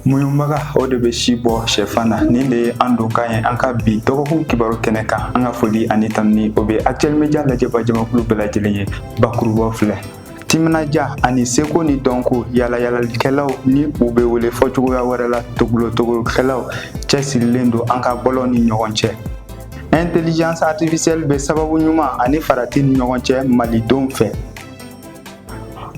Muɲubaga o de bɛ si bɔ shɛfan na nin de ye an don kan ye an ka bi dɔgɔkun kibaru kɛnɛ kan an ka foli ani tanuni o bɛ actuel media lajɛba jamakulu bɛɛ lajɛlen ye bakurubaw filɛ timinaja ani seko ni dɔnko yalayalalikɛlaw ni u bɛ wele fɔ cogoya wɛrɛ la togolotogolokɛlaw cɛsirilen don an ka bɔlɔn ni ɲɔgɔn cɛ intelligence artificielle bɛ sababu ɲuman ani farati ni ɲɔgɔn cɛ malidenw fɛ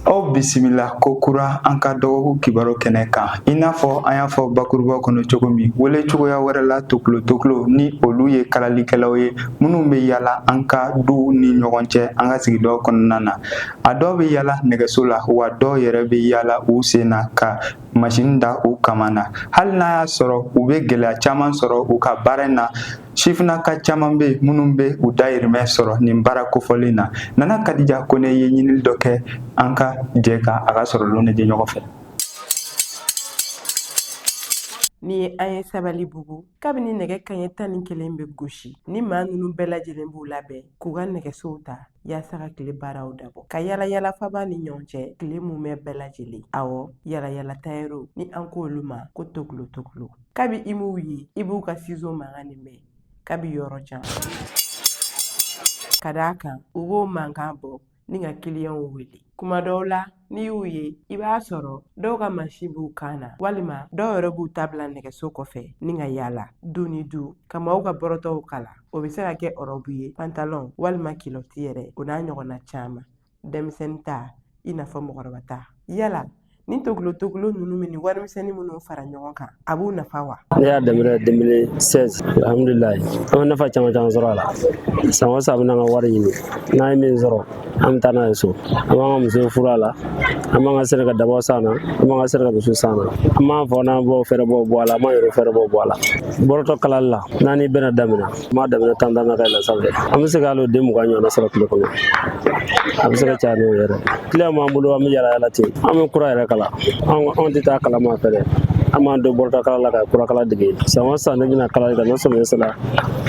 aw bisimila ko kura an ka dɔgɔkun kibaru kɛnɛ kan i n'a fɔ an y'a fɔ bakuruba kɔnɔ cogo min wele cogoya wɛrɛ la toklo toklo ni olu ye kalalikɛlaw ye minnu bɛ yala an ka duw ni ɲɔgɔn cɛ an ka sigidaw kɔnɔna na a dɔw bɛ yala nɛgɛso la wa dɔw yɛrɛ bɛ yala u sen na ka masini da u kaman na hali n'a y'a sɔrɔ u bɛ gɛlɛya caman sɔrɔ u ka baara in na sifinnaka caman bɛ minnu bɛ u dayirimɛ sɔrɔ nin baara kofɔlen na nana kadija kone ye ɲinili dɔ kɛ an ka jɛ ka a ka sɔrɔlenw lajɛ ɲɔgɔn fɛ nin ye an ye sabalibugu kabini nɛgɛ kanɲɛ tan ni kelen bɛ gosi ni maa ninnu bɛɛ lajɛlen b'u labɛn k'u ka nɛgɛsow ta yaasa ka tile baaraw dabɔ ka yala yala faba ni ɲɔgɔn cɛ tile mumɛ bɛɛ lajɛlen awɔ yala yala tayɛriw ni an ko olu ma ko toklo toklo kabi i m'u ye i b'u ka sizo mankan nin mɛn kabi yɔrɔ jan ka d'a kan u b'o mankan bɔ ni ka kiliyɛnw wele kuma dɔw la n'i y'u ye i b'a sɔrɔ dɔw ka masin b'u kan na walima dɔw yɛrɛ b'u ta bila nɛgɛso kɔfɛ ni ka yaala du ni du ka maaw ka bɔrɔtɔw kala o bɛ se ka kɛ ɔrɔbu ye pantalɔn walima kilɔti yɛrɛ o n'a ɲɔgɔnna caman denmisɛnnin ta i n'a fɔ mɔgɔkɔrɔba ta yala Ni tokolo tokolo ninnu bɛ nin warimisɛnnin minnu fara ɲɔgɔn kan a b'u nafa wa ne y'a daminɛ 2016 alhamdulilayi an bɛ nafa caman caman sɔrɔ a la san o san an bɛ n'an ka wari ɲini n'an ye min sɔrɔ an bɛ taa n'a ye so an b'an ka musow furu a la an b'an ka sɛnɛ ka dabaw san na an b'an ka sɛnɛ ka misiw san na an b'an faw n'an baw fɛɛrɛbɔ bɔ a la an b'an yɛrɛ fɛɛrɛbɔ bɔ a la bɔrɔtɔ kalali la n'an ni bɛna damina An b'a daminɛ tan na ka yɛlɛn sanfɛ an bɛ se ka hali den mugan ɲɔgɔn sɔrɔ tile kɔnɔ a bɛ se ka caya n'o yɛrɛ kiliyan b'an bolo an bɛ yala yala ten an bɛ kura yɛrɛ kala anw tɛ taa kalan maa fɛ dɛ an b'an don bɔrɔtɔ kala la ka kurakala dege san o san ne bɛna kalali kɛ ni samiya sera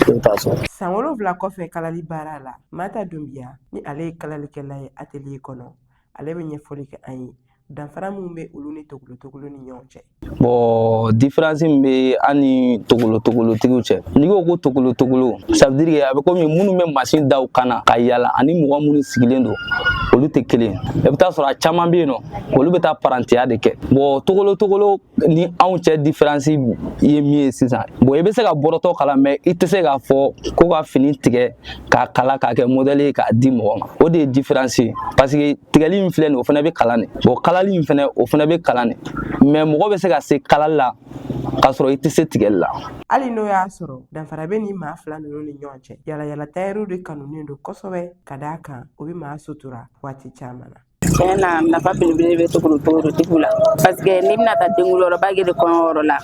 ne taa so san wolonwula kɔfɛ kalali baara la mata dunbiya ni ale ye kalalikɛla ye atelier kɔnɔ ale bɛ ɲɛfɔli kɛ an ye danfara min bɛ olu ni togolotogolo ni ɲɔgɔn cɛ bɔn diferansi min bɛ an ni togolotogolotigiw cɛ n'i ko ko togolotogolo ça veut dire que a bɛ komi minnu bɛ masin da u kan na ka yala ani mɔgɔ minnu sigilen don olu tɛ kelen i bɛ t'a sɔrɔ a caman bɛ yen nɔ olu bɛ taa parantiya de kɛ bɔn togolotogolo ni anw cɛ diferansi ye min ye sisan bon i bɛ se ka bɔrɔtɔ kala mɛ i tɛ se k'a fɔ ko ka fini tigɛ k'a kala k'a kɛ modɛli ye k'a di mɔgɔ ma o de ye diferansi ye parce que tigɛli min filɛ nin o fana bɛ kalan de bon kalali in fana o fana bɛ kalan de mɛ mɔgɔ bɛ se ka se kalali la k'a sɔrɔ i tɛ se tigɛli la hali n'o y'a sɔrɔ danfara bɛ nin maa fila ninnu ni ɲɔgɔn cɛ yalayala tayɛriw de kanunen don kosɛbɛ ka d'a kan o bɛ maa sutura waati caman na Tiɲɛ na nafa belebele bɛ tokolotokolotigi la parce que n'i bɛna taa denkunliyɔrɔba kɛ de kɔɲɔyɔrɔ la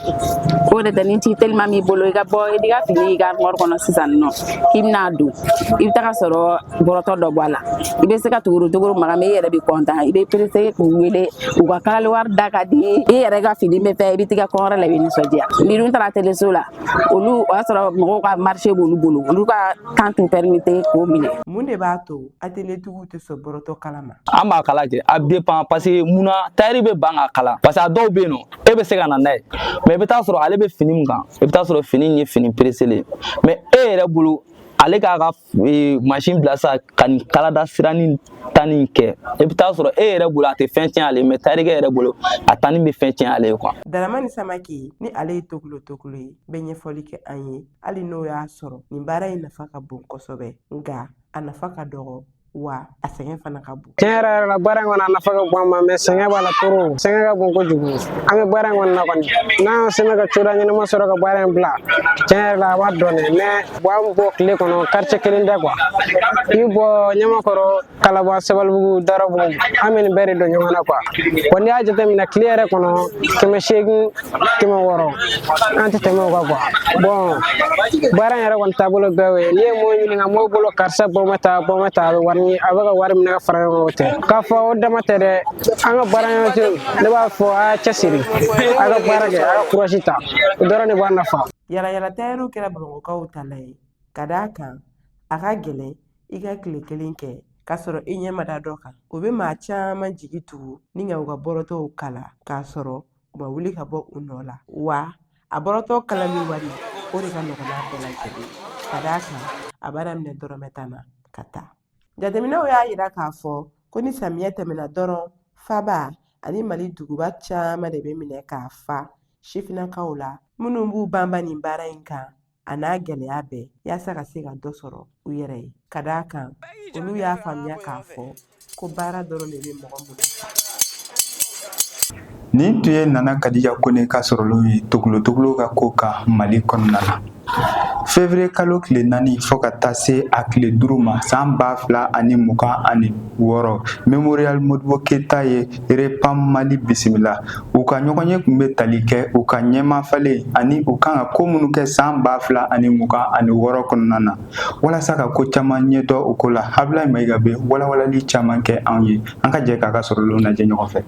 o de tɛ ni ci teliman b'i bolo i ka bɔ i ka fini y'i ka armoire kɔnɔ sisan nɔ k'i bɛna a don i bɛ taga sɔrɔ bɔrɔtɔ dɔ b'a la i bɛ se ka tokolotokolo maga mais i yɛrɛ bɛ content i bɛ perese k'u wele u ka kalali wari da ka di i yɛrɛ ka fini bɛ fɛ i bɛ t'i ka kɔɲɔyɔrɔ la i bɛ nisɔndiya n'i dun taara atelier so la olu o y'a sɔrɔ mɔgɔw ka marché b'olu bolo olu ka temps t'u permettre k'o minɛ mun de b'a to atelier tigiw tɛ sɔn bɔrɔtɔ kala ma an b'a kala kɛ a dépend parce que mun na tayɛri bɛ ban k'a kala parce que a dɔw bɛ yen nɔ e bɛ se ka na n'a ye mɛ i bɛ taa sɔrɔ ale bɛ fini min kan i bɛ taa sɔrɔ fini in ye fini pereselen ye mɛ e yɛrɛ bolo ale k'a ka e, mansin bila sa ka nin kalada siranin tanni in kɛ i bɛ taa sɔrɔ e yɛrɛ bolo a tɛ fɛn tiɲɛ ale mɛ tayɛrikɛ yɛrɛ bolo a tanni bɛ fɛn tiɲɛ ale ye kuwa. daramani samake ni ale ye tokolo tokolo ye bɛ ɲɛfɔli kɛ an ye hali n'o y'a sɔrɔ nin baara in nafa ka bon kosɛbɛ nka a nafa ka dɔgɔ wa a sɛgɛn fana ka bon tiɲɛ yɛrɛ yɛrɛ la baara in kɔnɔ a nafa ka bon an ma mɛ sɛgɛn b'a la toro sɛgɛn ka bon kojugu an bɛ baara in kɔnɔ na kɔni n'an y'an sɛmɛ ka cogoya ɲɛnama sɔrɔ ka baara in bila tiɲɛ yɛrɛ la a b'a dɔn dɛ mɛ bon an bɔ tile kɔnɔ kartiye kelen tɛ kuwa i bɔ ɲamakɔrɔ kalaban sabalibugu dawudabugu an bɛ nin bɛɛ de don ɲɔgɔn na kuwa wa n'i y'a jateminɛ tile yɛrɛ kɔnɔ kɛmɛ seegin kɛmɛ wɔɔrɔ an tɛ tɛmɛ o kan kuwa bon baara in yɛrɛ kɔni taabolo bɛɛ y'o ye n'i ye mɔgɔ ɲininka mɔgɔ bolo karisa bɔ ma taa bɔ ma taa a bɛ wari ɲini a bɛ ka wari minɛ ka fara ɲɔgɔn kan o tɛ k'a fɔ o dama tɛ dɛ an ka baara ɲɔgɔn tɛ ne b'a fɔ a y'a cɛsiri a ka baara kɛ a ka kurasi ta o dɔrɔn de b'a nafa yalayala tayɛriw kɛra bamakɔkaw tala ye ka d'a kan a ka gɛlɛn i ka tile kelen kɛ k'a sɔrɔ i ɲɛ ma da dɔ kan o bɛ maa caman jigi tugu ni ka u ka bɔrɔtɔw kala k'a sɔrɔ u ma wuli ka bɔ u nɔ la wa a bɔrɔtɔ kalali wari o de ka nɔgɔn n'a bɛɛ lajɛlen ka d'a kan a b'a daminɛ dɔrɔmɛ tan na ka taa jateminɛw y'a yira k'a fɔ ko ni samiyɛ tɛmɛna dɔrɔn faba ani mali duguba caman de bɛ minɛ k'a fa sifinnakaw la minnu b'u banba nin baara in kan a n'a gɛlɛya bɛɛ yaasa ka se ka dɔ sɔrɔ u yɛrɛ ye ka d'a kan olu y'a faamuya k'a fɔ ko baara dɔrɔn de bɛ mɔgɔ munafan nin tun ye nana kadija kone ka sɔrɔlenw ye togolotogolo ka ko kan mali kɔnɔna na fevriye kalo tile naani fo ka taa se a tile duuru ma san ba fila ani mugan ani wɔɔrɔ memorial modibo keyita ye REPAM Mali bisimila u ka ɲɔgɔnye tun bɛ tali kɛ u ka ɲɛmafalen ani u kan ka ko minnu kɛ san ba fila ani mugan ani wɔɔrɔ kɔnɔna na walasa ka ko caman ɲɛdɔn u ko la Ablaye Mayiga bɛ walawalali caman kɛ anw ye an ka jɛ k'a ka sɔrɔlen lajɛ ɲɔgɔn fɛ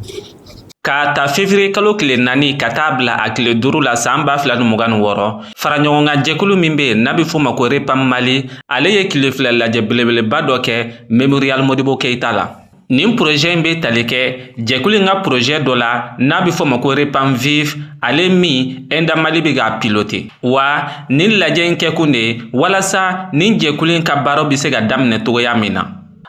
Ka ta février kalo tile naani ka taa bila a tile duuru la san ba fila ni mugan ni wɔɔrɔ faraɲɔgɔnkan jɛkulu min bɛ yen n'a bɛ fɔ ma ko REPAM Mali ale ye tile fila lajɛ belebeleba dɔ kɛ Mémorial Modibo Keyita la Nin porozɛ in bɛ tali kɛ jɛkulu in ka porozɛ dɔ la n'a bɛ fɔ ma ko REPAM vive ale min Enda Mali bɛ k'a piloter wa nin lajɛ in kɛkun de ye walasa nin jɛkulu in ka baaraw bɛ se ka daminɛ cogoya min na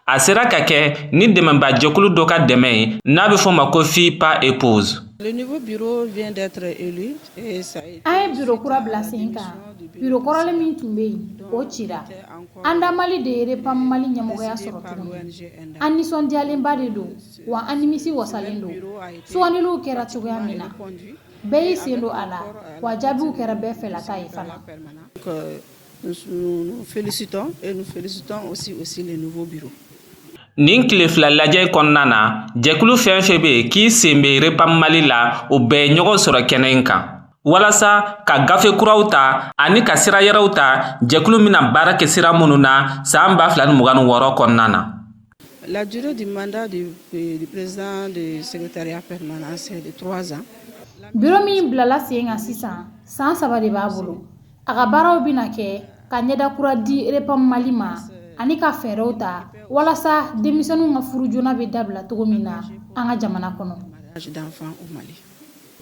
a sera ka kɛ ni dɛmɛba jɛkulu dɔ ka dɛmɛ ye n'a bɛ fɔ ma ko Filles pas épouses an ye biro kura bila sen kan biro kɔrɔlen min tun bɛ yen o cira Enda Mali de ye REPAM Mali ɲɛmɔgɔya sɔrɔ tuguni, an nisɔndiyalenba de don wa an nimisi wasalen don, sugandiliw kɛra cogoya min na bɛɛ y'i sen don a la wa jaabiw kɛra bɛɛ fɛlata ye fana Nin tile fila lajɛ in kɔnɔna na, jɛkulu fɛn o fɛn bɛ yen k'i sen bɛ REPAM Mali la, u bɛɛ ye ɲɔgɔn sɔrɔ kɛnɛ in kan. walasa ka gafe kuraw ta ani ka sira yɛrɛw ta jɛkulu bɛna baara kɛ sira minnu na san ba fila ni mugan ni wɔɔrɔ kɔnɔna na La durée du mandat du, euh, du président du secrétariat permanent, c'est de trois ans. Biro min bilala sen kan sisan, san saba de b'a bolo. A ka baaraw bɛna kɛ ka ɲɛda kura di Repam Mali ma ani ka fɛɛrɛw ta walasa denmisɛnninw ka furu joona bɛ dabila cogo min na an ka jamana kɔnɔ.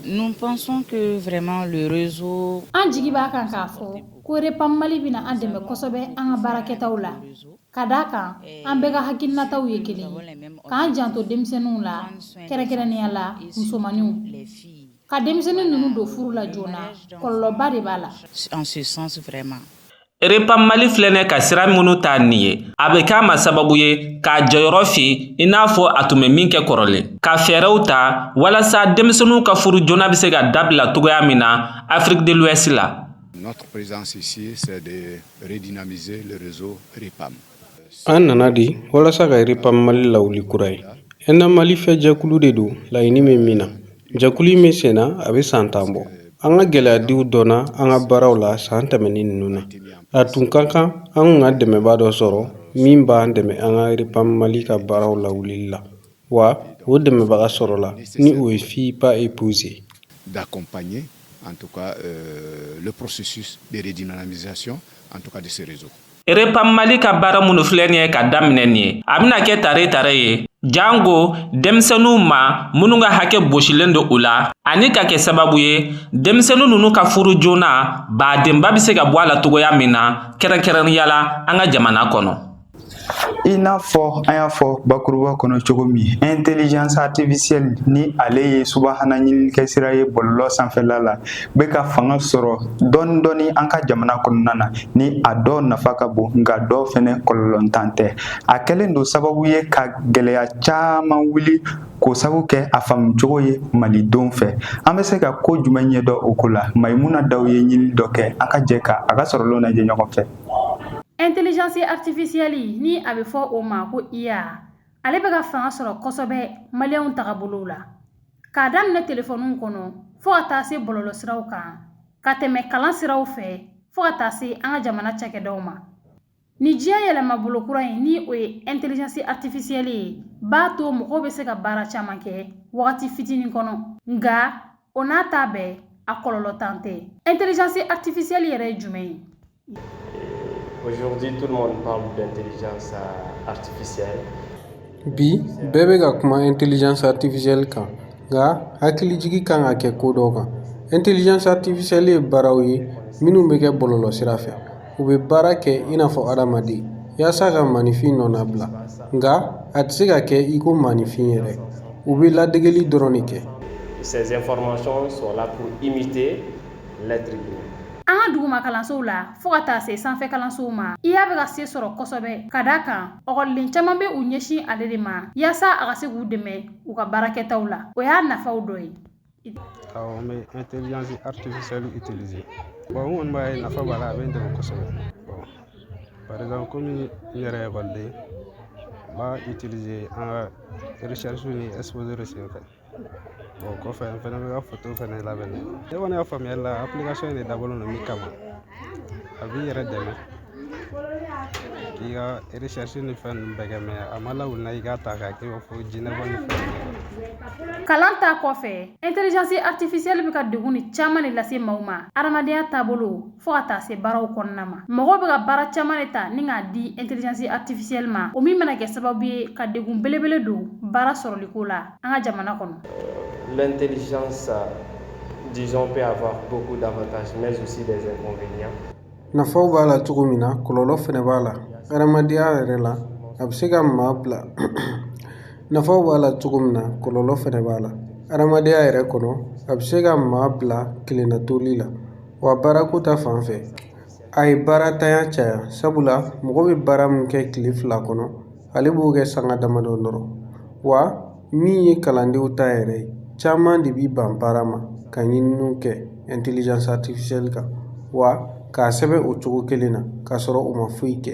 Nous pensons que vraiment le réseau An jigi b'a kan k'a fɔ ko REPAM Mali bɛna an dɛmɛ kosɛbɛ an ka baarakɛtaw la, ka d'a kan an bɛɛ ka hakilinataw ye kelen ye, k'an janto denmisɛnninw la kɛrɛnkɛrɛnnenya la musomanninw, ka denmisɛnnin ninnu don furu la joona kɔlɔlɔba de b'a la en ce sens vraiment REPAM Mali filɛnɛ ka sira minnu ta nin ye, a bɛ k'a ma sababu ye k'a jɔyɔrɔ fa i n'a fɔ a tun bɛ min kɛ kɔrɔlen. Ka fɛɛrɛw ta walasa denmisɛnninw ka furu joona bɛ se ka dabila cogoya min na Afrique de l'Ouest la. Notre présence ici, c'est de redynamiser le réseau REPAM. An nana de walasa ka REPAM Mali lawuli kura ye Enda Mali fɛ jɛkulu de don laɲini bɛ min na jɛkulu in bɛ sen na a bɛ san tan bɔ nka gɛlɛya dɔw donna an ka baaraw la san tɛmɛnen ninnu na a tun ka kan an ka dɛmɛba dɔ sɔrɔ min b'an dɛmɛ an ka REPAM Mali ka baaraw lawuli la wa o dɛmɛbaga sɔrɔla ni o ye Filles pas épouses d'accompagner en tout cas le processus de redynamisation en tout cas du réseau Erepan Mali ka baara minnu filɛ nin ye ka daminɛ nin ye a bɛna kɛ tare tare ye jango denmisɛnninw ma minnu ka hakɛ bosilen don u la ani ka kɛ sababu ye denmisɛnnin ninnu ka furu joona badenba bɛ se ka bɔ a la cogoya min na kɛrɛnkɛrɛnnenya la an ka jamana kɔnɔ i n'a fɔ an y'a fɔ bakuruba kɔnɔ cogo min intelligence artificielle ni ale ye subahana ɲininikɛsira ye bɔlɔlɔ sanfɛla la bɛ ka fanga sɔrɔ dɔɔni dɔɔni an ka jamana kɔnɔna na ni a dɔ nafa ka bon nka dɔ fɛnɛ kɔlɔlɔntan tɛ a kɛlen don sababu ye ka gɛlɛya caman wuli k'o sabu kɛ a faamucogo ye malidenw fɛ an bɛ se ka ko jumɛn ɲɛdɔn o ko la Mayimuna Daw ye ɲini dɔ kɛ an ka jɛ ka a ka sɔrɔlenw lajɛ ɲɔgɔn fɛ intelligence artificielle ni a bɛ fɔ o ma ko IA ale bɛ ka fanga sɔrɔ kosɛbɛ maliyɛnw tagabolow la k'a daminɛ telefɔniw kɔnɔ fo ka taa se bɔlɔlɔ siraw kan ka tɛmɛ kalan siraw fɛ fo ka taa se an ka jamana cakɛdaw ma ni diɲɛ yɛlɛma bolo kura ye ni o ye intelligence artificielle ye b'a to mɔgɔw bɛ se ka baara caman kɛ wagati fitinin kɔnɔ nka o n'a ta bɛɛ a kɔlɔlɔntan tɛ intelligence artificielle yɛrɛ ye jumɛn ye Aujourd'hui, tout le monde parle d'intelligence euh, artificielle. Bi, bɛɛ bɛ ka kuma intelligence artificielle kan nka hakilijigi kan ka kɛ ko dɔw kan intelligence artificielle ye baaraw ye minnu bɛ kɛ bɔlɔlɔsira fɛ u bɛ baara kɛ i n'a fɔ adamaden yaasa ka maaninfin nɔnabila nka a tɛ se ka kɛ i ko maaninfin yɛrɛ u bɛ ladegeli dɔrɔn de kɛ. Ces informations sont là pour imiter an ka duguma kalansow la fɔɔ ka taa se sanfɛ kalansow ma IA bɛ ka se sɔrɔ kosɛbɛ ka da kan ekɔliden caman bɛ u ɲɛsin ale de ma yaasa a ka se k'u dɛmɛ u ka baarakɛtaw la o y'a nafaw dɔ ye awɔ n bɛ intelligence artificielle utiliser bon n kɔni b'a ye nafa b'a la a bɛ n dɛmɛ kosɛbɛ bon par exemple komi n yɛrɛ ye ekɔliden n b'a utiliser an ka recherche ni exposé de senfɛ o kɔfɛ n fɛnɛ bɛ ka foto fɛnɛ labɛn ne kɔni ka faamuyali la application in de dabɔlen don min kama a b'i yɛrɛ dɛmɛ k'i ka recherche ni fɛn ninnu bɛɛ kɛ mɛ a ma lawuli na i k'a ta k'a kɛ i b'a fɔ jinɛbɔ ni fɛn kalan ta kɔfɛ intelligence artificielle bɛ ka degunni caman de lase maaw ma adamadenya taabolo fɔɔ ka taa se baaraw kɔnɔna ma mɔgɔw bɛ ka baara caman de ta ni k'a di intelligence artificielle ma o min bɛna kɛ sababu ye ka degun belebele don baara sɔrɔliko la an ka jamana kɔnɔ l'intelligence disons peut avoir beaucoup d'avantages mais aussi des inconvénients nafaw b'a la cogo min na kɔlɔlɔ fɛnɛ b'a la hadamadenya yɛrɛ la a bɛ se ka maa bila nafaw b'a la cogo min na kɔlɔlɔ fɛnɛ b'a la hadamadenya yɛrɛ kɔnɔ a bɛ se ka maa bila kelennatoli la wa baarako ta fan fɛ a ye baarantanya caya sabula mɔgɔ bɛ baara min kɛ kile fila kɔnɔ ale b'o kɛ sanga damadɔ dɔrɔn wa min ye kalandenw ta yɛrɛ ye caman de bi ban baara ma ka ɲininiw kɛ intelligence artificielle kan wa k'a sɛbɛn o cogo kelen na k'a sɔrɔ u ma foyi kɛ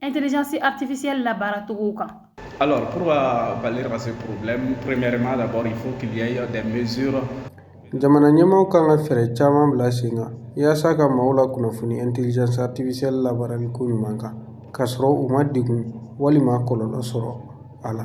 intelligence artificielle labaaracogo kan Alors, pour euh, pallier à ce problème, premièrement, d'abord, il faut qu'il y ait des mesures jamana ɲɛmaaw kan ka fɛɛrɛ caman bila sen kan yaasa ka maaw lakunnafoni intelligence artificielle labaarali ko ɲuman kan k'a sɔrɔ u ma degun walima kɔlɔlɔ sɔrɔ a la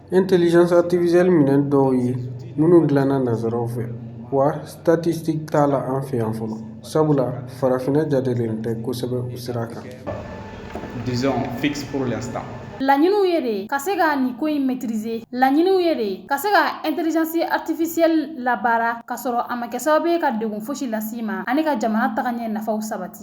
artificielle minɛn dɔw ye minnu dilanna nanzaraw fɛ wa statistique t'a la an fɛ yan fɔlɔ sabula farafinna jatelen tɛ kosɛbɛ u sira kan Laɲiniw ye de ka se ka nin ko in maîtriser laɲiniw ye de ka se ka intelligence artificielle labaara k'a sɔrɔ a ma kɛ sababu ye ka degun fosi las'i ma ani ka jamana tagaɲɛ nafaw sabati